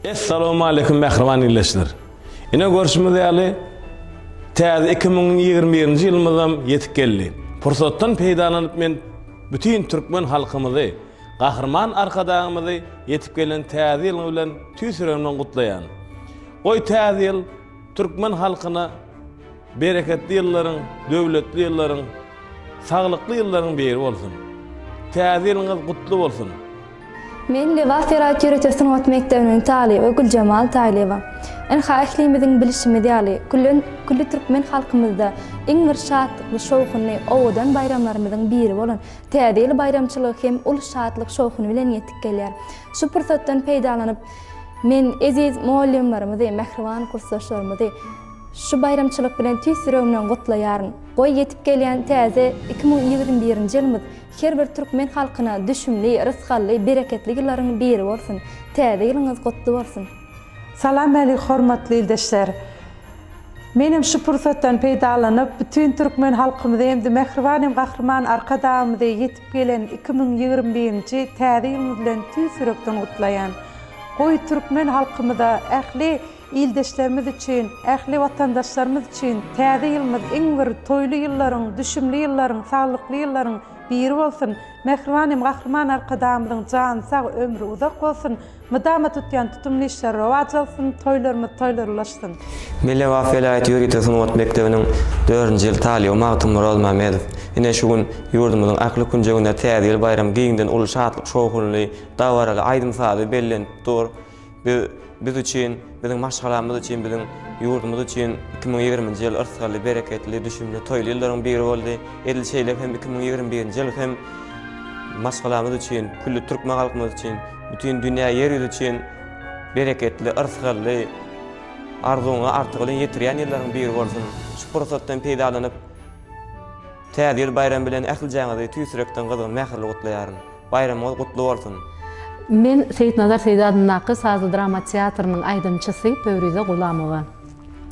Essalamualeýkum mähriban ildeşler. Ine görşümiz ýaly täze iki müň ýigrimi birinji ýylymyzam ýetip geldi. Pursatdan peýdalanyp men bütin türkmen halkymyzy, Gahryman Arkadagymyzy ýetip gelen täze ýylyň bilen tüýs ýüregimden gutlaýan. Goý täze ýyl türkmen halkyna, Bereketli ýyllaryň, döwletli ýyllaryň, saglykly ýyllaryň biri bolsun! Täze ýylyňyz gutly bolsun! Men Lebap zeraýat ýörite sungat mekdebiniň talyby Güljemal Taýlyýewa. Ynha ählimiziň bilişimiz ýaly, küllen külli türkmen halkymyzda iň bir şatlykly, şowhunly, owadan baýramlarymyzyň biri bolan Täze ýyl baýramçylygy hem uly şatlyk, şowhun bilen ýetip gelýär. Şu pursatdan peýdalanyp, men eziz mugallymlarymyzy, mähriban kursdaşlarymyzy, Şu baýramçylyk bilen tüýs ýüregimden gutlaýaryn. Goý, ýetip gelýän täze iki müň ýigrimi birinji ýylymyz her bir türkmen halkyna düşümli, rysgally, bereketli ýyllaryň biri bolsun! Täze ýylyňyz gutly bolsun! Salamalik hormatly ildeşler! Men hem şu pursatdan peýdalanyp, bütin türkmen halkymyzy hem-de mähriban hem gahryman Arkadagymyzy ýetip gelen iki müň ýigrimi birinji täze ýylymyz bilen tüýs ýürekden gutlaýan. Goý, türkmen halkymyza ähli Ildeşlerimiz üçin, ähli watandaşlarymyz üçin Täze ýylymyz iň bir toýly ýyllaryň, düşümli ýyllaryň, saglykly ýyllaryň biri bolsun! Mähriban hem Gahryman Arkadagymyzyň jany sag, ömri uzak bolsun! Mydama tutýan tutumly işleri rowaç alsyn, toýlarymyz toýlar ulaşsyn! Millewax welaýat ýörite sungat mekdebiniň dördünji ýyl talyby Magtymyrat Mämedow ine şu gün ýurdumyzyň ähli künjeginde Täze ýyl baýramy giňden uly şatlyk-şowhunly dabaraly aýdym-sazy bellent dur. Biz biz üçin, biziň maşgalamyz üçin, biziň ýurdumyz üçin iki müň ýigrimi nji ýyl yrsgally, bereketli, düşümli, toýly ýyllaryň biri boldy. Edil şeýle hem iki müň ýigrimi birinji ýyl hem maşgalamyz üçin, külli türkmen halkymyz üçin, bütin dünýä, ýer ýüzi üçin bereketli, yrsgally, arzuwyňa artygylyn ýetirýän ýyllaryň biri bolsun! Şu pursatdan peýdalanyp, Täze ýyl baýramy bilen ähli jaňyzy tüýs ýürekden gyzgyn mähirli gutlaýaryn. Baýramyňyz gutly bolsun! Men Seýitnazar Seýdi adyndaky sazly-drama teatrynyň aýdymçysy Pöwrize Gulamowa.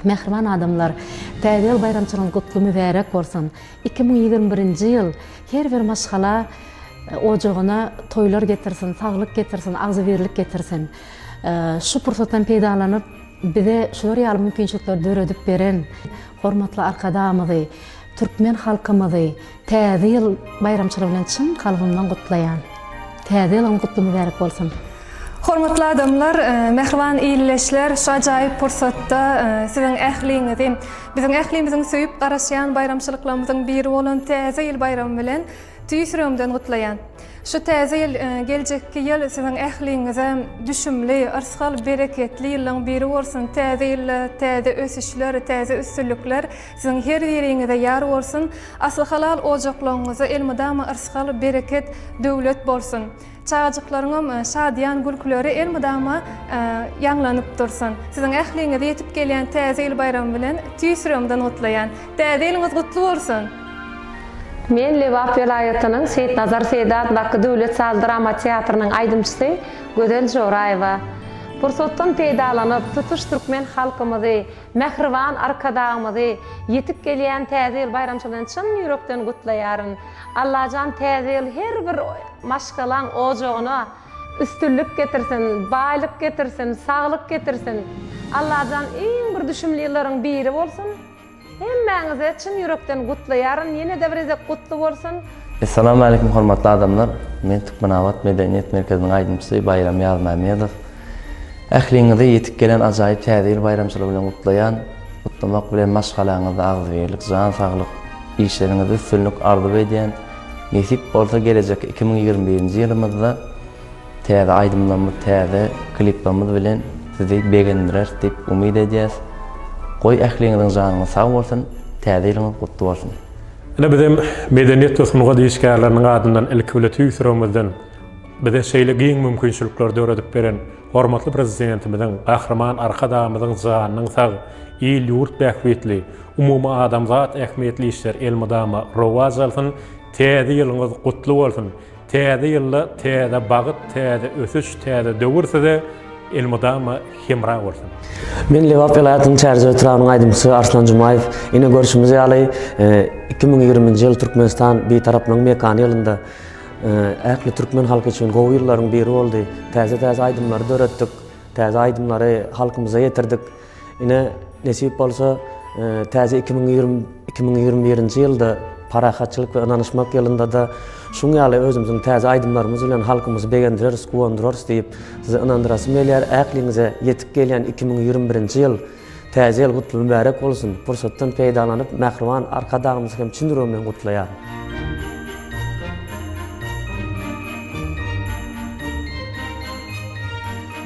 Mähriban adamlar, Täze ýyl baýramçylygyňyz gutly mübärek bolsun! Iki müň ýigrimi birinji ýyl her bir maşgala ojagyna toýlar getirsin, saglyk getirsin, agzybirlik getirsin! Şu pursatdan peýdalanyp, bize şular ýaly mümkinçilikleri döredip beren hormatly Arkadagymyzy, Türkmen halkymyzy Täze ýyl baýramçylygy bilen çyn kalbymdan gutlaýan. Täze ýylyňyz gutly mübärek bolsun! Hormatly adamlar, mähriban illeşler, şu ajaýyp pursatda siziň ähliňizi biziň ählimiziň söýüp garaşýan baýramçylyklarymyzyň biri bolan Täze ýyl baýramy bilen tüýs ýüregimden gutlaýan. Şu Täze ýyl, geljekki ýyl siziň ähliňize düşümli, yrsgal, bereketli ýyllaryň biri bolsun, Täze ýylda täze ösüşler, täze üstünlikler, Siziň her biriňize ýar bolsun, asly halal ojaklaryňyzda elmydama yrsgal, bereket, döwlet bolsun. Çagajyklaryňam şadyýan gülküleri elmydama ýaňlanyp dursun. Siziň ähliňizi ýetip gelýän Täze ýyl baýramy bilen tüýs ýüregimden gutlaýan. Täze ýylyňyz gutly bolsun! Men Lebap welaýatynyň Seýitnazar Seýdi atlaky döwlet saz drama teatrynyň aýdymçysy Gözel Joraýewa. Pursatdan peýdalanyp, tutuş türkmen halkymyzy, Mähriban Arkadagymyzy ýetip gelýän Täze ýyl baýramçylygy bilen çyn ýürekden gutlaýaryn. Allajan Täze ýyl her bir maşgalaň ojagyna üstünlik getirsin, baýlyk getirsin, saglyk getirsin. Allajan iň bir düşümli ýyllaryň biri bolsun. Hemmäňizi çyn ýürekden gutlaýaryn. Ýene-de bir gezek gutly bolsun. Essalamu aleýkum hormatly adamlar! Men Türkmenabat medeniýet merkeziniň aýdymçysy Baýram Ýazmämmedow. Ähliňizi ýetip gelen ajaýyp Täze ýyl baýramçylygy bilen gutlaýan. Gutlamak bilen maşgalaňyzda agzybirlik, jan saglyk, işleriňizde üstünlik arzuw edýän. Nesip bolsa gelejek iki müň ýigrimi birinji ýylymyzda täze aýdymlarymyz, täze kliplerimiz bilen sizi begendireris diýip umyt edýäs. Goý ähliňiziň janyňyz sag bolsun, Täze ýylyňyz gutly bolsun! Ine bizem medeniýet we sungat işgärleriniň adyndan ilki bile tüýs ýüregimizden bize şeýle giň mümkinçilikleri döredip beren hormatly Prezidentimiziň, Gahryman Arkadagymyzyň janynyň sag, il-ýurt bähbitli, umumyadamzat ähmiýetli işler elmydama rowaç alsyn, täze ýylyňyz gutly bolsun, Täze ýylda täze bagyt, täze ösüş, täze döwür size elmydama hemra bolsun! Men Lebap welaýatynyň Çärjew etrabynyň aýdymçysy Arslan Jumaýew. Ine görşümiz ýaly, iki müň ýigriminji ýyl Türkmenistan Bitaraplygyň mekany ýylynda ähli türkmen halky üçin gowy ýyllaryň biri boldy. Täze-täze aýdymlary döretdik, täze aýdymlary halkymyza ýetirdik. Ine, nesip bolsa, täze iki müň ýigrimi iki müň ýigrimi birinji ýylda parahatçylyk we ynanyşmak ýylynda-da şuň ýaly özümiziň täze aýdymlarymyz bilen halkymyzy begendireris, guwandyrarys diýip, sizi ynandyrasym gelýär. Ähliňize ýetip gelýän iki müň ýigrimi birinji ýyl, Täze ýyl gutly, mübärek bolsun! Pursatdan peýdalanyp, mähriban Arkadagymyzy hem çyn ýüregimden gutlaýaryn.